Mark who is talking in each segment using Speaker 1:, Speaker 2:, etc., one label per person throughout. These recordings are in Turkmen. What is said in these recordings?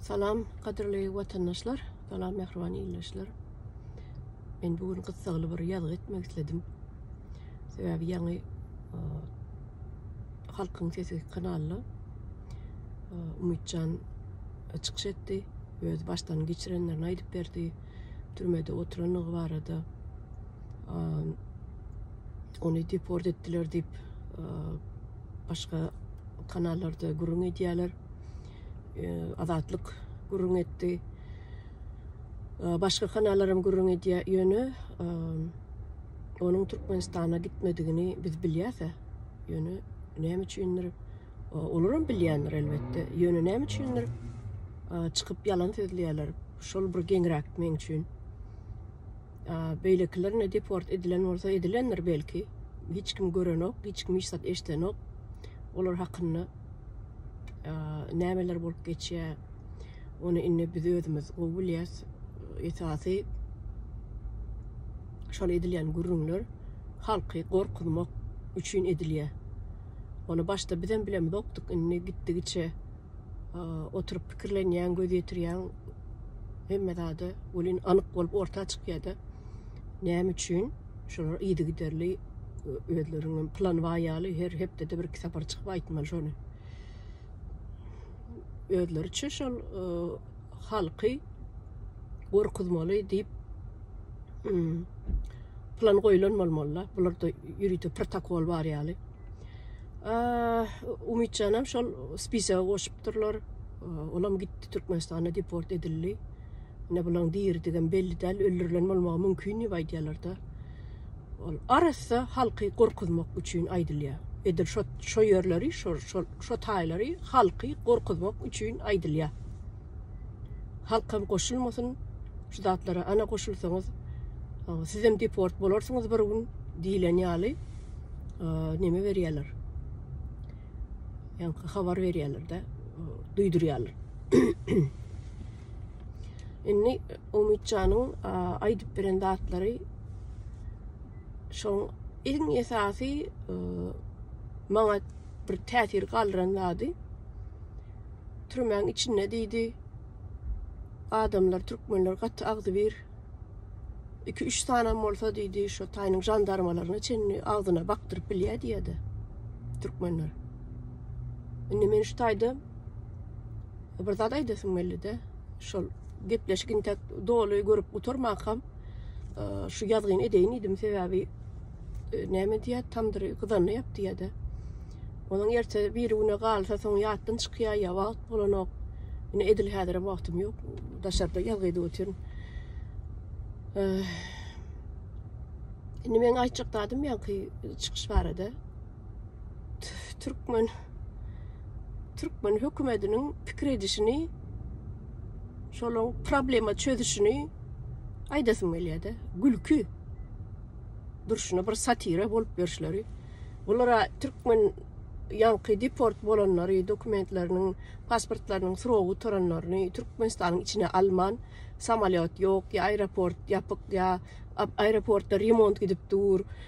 Speaker 1: Salam gadyrly watandaşlar, salam mähriban ildeşler. Men bu gün gyssagly bir ýazgy etmek isledim. Sebäbi ýaňy e, Halkyň sesi kanaly e, Umytjan çykyş etdi. Öz başdan geçirenlerini aýdyp berdi. Türmede oturanlygy barada ony deport etdiler diýip başga kanallarda gürrüň edýärler. Azatlyk gürrüň etdi. Başga kanallaram gürrüň edýär. Ýöne onuň Türkmenistana gitmedigini biz bilýäs. Ýöne näme üçindir olar hem bilýändir elbetde. Ýöne näme üçindir çykyp ýalan sözleýärler. Şol bir geňräk meň üçin. beýlekiler ne deport edilen bolsa edilendir belki. Hiç kim görenok, hiç kim hiç zat eşdenok. Olar hakynda nämeler bolup geçýär. Ony indi biz özümiz gowy bilýäs. Esasy şol edilýän gürrüňler halky gorkuzmak üçin edilýär. Ony başda bizem bilemizokdyk, indi gitdigiçe oturyp pikirlenýäň, göz ýetirýäň, hemme zada welin anyk bolup orta çykýar-da. Näme üçin? Şolar yzygiderli özleriniň plan bar ýaly her hepdede bir iki sapar çykyp aýtmaly şony. Özleri üçin şol e, halky gorkuzmaly diýip hmm, plan goýlan bolmaly. Bularda ýörite protokol bar ýaly. Umytjanam şol spisaga goşupdyrlar. Olam gitdi Türkmenistana deport edildi. Ne bulan diridigem belli däl, öldürilen bolmagy mümkin diýip aýdýarlar-da. Ol arassa halky gorkuzmak üçin aýdylýar. Edil şo şo ýerleri, şo şo şo taýlary halky gorkuzmak üçin aýdylýar. Halkam goşulmasyn şu zatlara ana goşulsaňyz sizem deport bolarsyňyz bir gün diýlen ýaly neme berýärler. Ýa-da habar berýärler-de, duýdurýarlar. Indi Umytjanyň aýdyp beren zatlary şoň iň esasy maňa bir täsir galdyran zady türmäň içinde diýdi. Adamlar, türkmenler gaty agzybir. Iki, üç sanam bolsa diýdi, şu taýynyň jandarmalaryna çenli agzyna bakdyryp bilýär diýdi. Türkmenler. Indi men şu taýda bir zat aýdasym geldi-de, şol gepleşik intek doly görüp gutarmakam. şu ýazgyny edeýin diýdim, sebäbi e, näme diýýär, tamdyry gyzanda ýap diýýär-de. Onuň erte bir güne galsa, soň ýatdan çykýar, ýa wagt bolanok. Ine edil häzir wagtym ýok. Daşarda ýazgy edip otyryn. Indi meň aýtjak zadym ýaňky çykyş barada. türkmen türkmen hökümetiniň pikir edişini şolaň problema çözüşini aýdasym gelýärdi. Gülki. Durşuna bir satira bolup ýörşleri. Bulara türkmen ýaňky deport bolanlary, dokumentleriniň, pasportlarynyň srogy gutaranlaryny Türkmenistanyň içine alman, samolyot ýok, ýa aeroport ýapyk, ýa aeroportda remont gidip dur.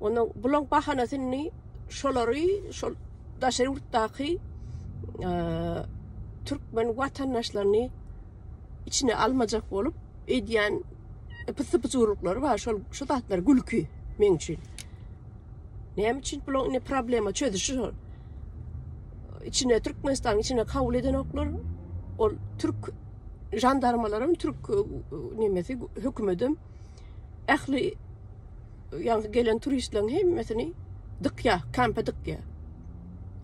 Speaker 1: Onda bulaň bahanasy indi şolary şol daşary ýurtdaky türkmen watandaşlaryny içine almajak bolup edýän pysypyjylyklary bar. Şol şu zatlar gülki meň üçin. Näme üçin bulaň indi problema çözüşi şol. İçine Türkmenistanyň içine kabul edenoklar ol türk jandarmalarym türk e, nemesi hökümetim ähli ýaňky gelen turistleriň hemmesini dykýa, kampa dykýa.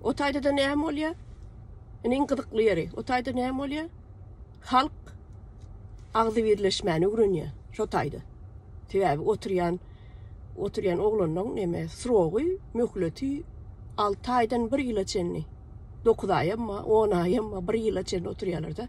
Speaker 1: O taýda-da näme bolýa? Indi iň gyzykly ýeri, o taýda näme bolýa? Halk agzy birleşmäni öwrenýä, şo taýda. Sebäbi oturýan oturýan oglanlaryň näme srogy, möhleti 6 aýdan 1 ýyla çenli. 9 aýam, 10 aýam, 1 ýyla çenli oturýarlar-da.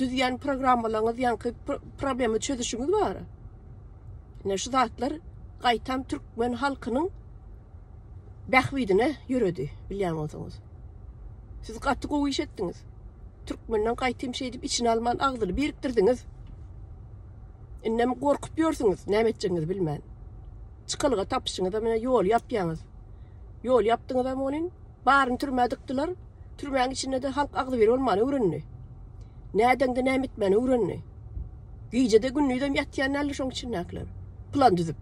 Speaker 1: düzýän programmalaryňyz ýaňky problema çözüşiňiz bar. Ne şu zatlar gaýtam türkmen halkynyň bähbidine ýöredi, bilýän bolsaňyz. Siz gaty gowy iş etdiňiz. Türkmenden gaýtam şeýdip içine alman agzyny birikdirdiňiz. Indem gorkup ýörsüňiz, näme etjegiňizi bilmän. Çykalga tapyşyňyza menä ýol ýapýaňyz. Ýol ýapdyňyzam onuň Baryny türmä dykdylar. Türmäň içinde-de halk agzybir bolmany öwrendi. Nädeňde näme etmäni öwrendi. Gije-de gündizem ýatýan däldi şoň içindäkiler. Plan düzüp.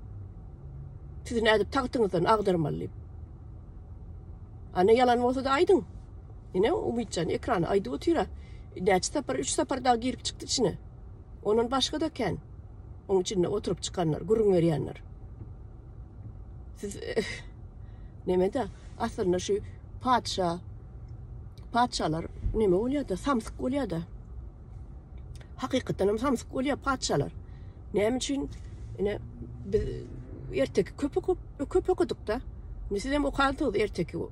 Speaker 1: Sizi nädip tagtyňyzdan agdarmaly diýip. Ana ýalan bolsa-da aýdyň. Ine Umytjan ekrana aýdyp otyra. Näçe sapar, üç sapar dagy girip çykdy içine. Ondan başga-da kän. Oň içinde oturyp çykanlar, gürrüň berýänler. Siz nemede? Aslynda şu patyşa patyşalar neme bolýar-da? Samsyk bolýar-da. Hakykatdan hem samsyk bolýar patyşalar. Näme üçin? Ine biz erteki köpek köpek okuduk-da. Siz hem okansyňyz erteki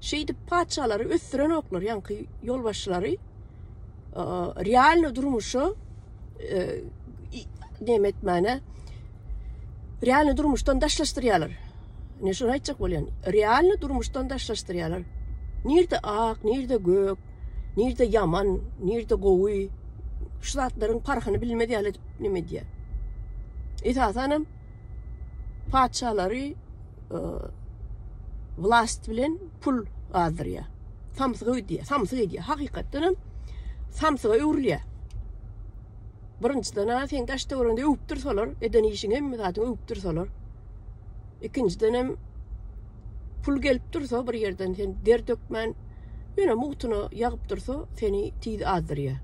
Speaker 1: Şeýdip patyşalary ösdürenoklar ýaňky ýolbaşçylary realny durmuşa näme etmäne realny durmuşdan daşlaşdyrýarlar. Ne şunu aýtjak bolýan. Realny durmuşdan daşlaşdyrýarlar. Nirde ak, nirde gök, nirde ýaman, nirde gowy. Şu zatlaryň parhyny bilmez ýaly edip neme edýär. Esasanam Patyşalary vlast bilen pul gazdyrýar. Samsyga öýdýär, samsyk edýär. Hakykatdan hem samsyga öwrülýär. Birinjiden-ä sen daş töweregiňde öwüp dursalar, eden işiň hemme zadyňy öwüp dursalar. Ikinjiden hem pul gelip dursa bir ýerden sen der dökmän, ýöne mugtuna ýagyp dursa, seni tiz azdyrýar.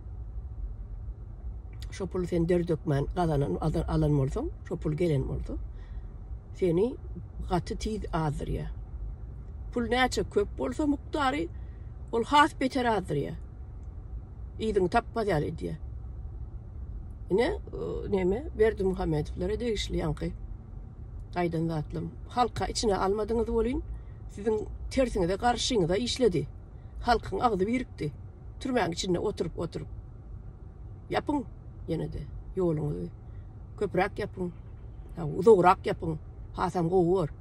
Speaker 1: Şo puly sen der dökmän gazanan alan bolsaň, şo pul gelen bolsa, seni gaty tiz azdyrýar. Pul näçe köp bolsa mukdary, ol has beter azdyrýar. Yzyňy tapmaz ýaly edýär. Ine, näme, Berdi Muhammedowlara degişli ýaňky aýdan zatlarym. Halka içine almadyňyz welin, siziň tersiňize, garşyňyza işledi. Halkyň agzy birikdi. Türmäň içinde oturyp-oturyp. Ýapyň ýene-de ýoluňyzy. Köpräk ýapyň. Uzagrak ýapyň. Hasam gowy bor.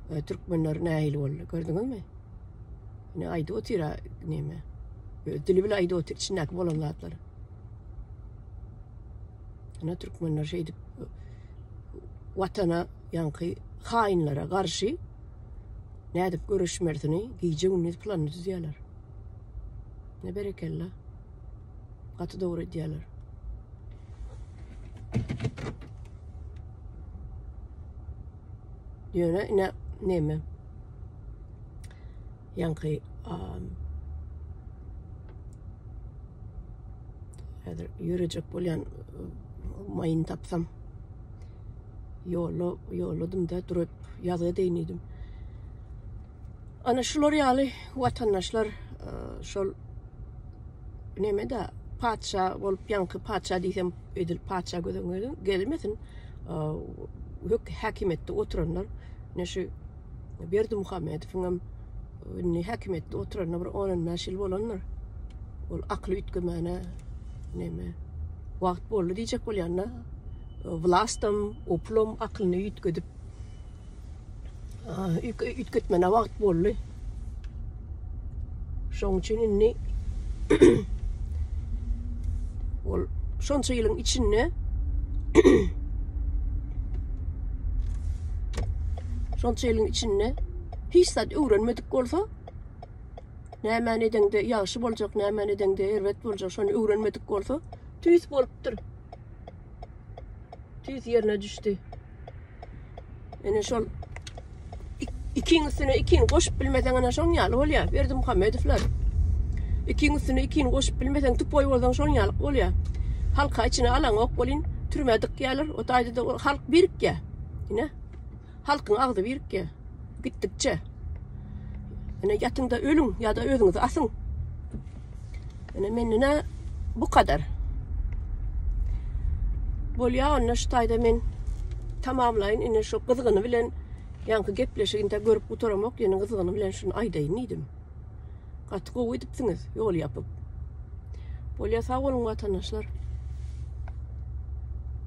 Speaker 1: E, türkmenler nähili boldy, gördüňizmi? Ne aýdyp otyr näme? Öz dili bilen aýdyp otyr içindäki bolan zatlary. Ana türkmenler şeýdip watana ýaňky haýynlara garşy nädip göreşmelisini gije gündüz planyny düzýärler. Ne berekella. Gaty dogry edýärler. Ýöne ine neme? Ýaňky häzir ýörejek bolýan maýyny tapsam ýolla ýolladym da durup ýazga deýin Ana şular ýaly watandaşlar e, şol neme de patyşa bolup ýaňky patyşa diýsem edil patyşa gözüm gelmesin. E, hök häkimiýetde oturanlar ne şu Berdi Muhammedowyň hem indi häkimiýetde oturanyna bir 15 ýyl bolandyr. Ol akly üýtgemene neme wagt boldy diýjek bolýan-da. E, Vlastam, oplom aklyny üýtgedip Üýtgetmäne wagt boldy. Şoň üçin indi ol şonça ýylyň içinde şonça ýylyň içinde hiç zat öwrenmedik bolsa nämäni edeňde ýagşy boljak, nämäni edeňde erbet boljak, şony öwrenmedik bolsa tüýs bolupdyr. Tüýs ýerine düşdi. Ene şol ikiň üstüne ikiň goşup bilmeseň ana şoň ýaly bolýar. Berdi Muhammedowlar. Ikiň üstüne ikiň goşup bilmeseň tupoý bolsaň şoň ýaly bolýar. Halka içine alan ok bolin türme dykýarlar. O taýda da halk birikýär. Ine. Halkyň agzy birikýär. Gitdikçe. Ine ýatyňda ölüň ýa-da özüňizi asyň. Ine mendine bu kadar. Bolýa onda şu taýda men tamamlaýyn. Ine şu gyzgyny bilen ýaňky gepleşiginde görüp gutaramok, ýene gyzgyny bilen şuny aýdaýyn diýdim. Gaty gowy edipsiňiz, ýol ýapyp. Bolýa sag boluň watandaşlar.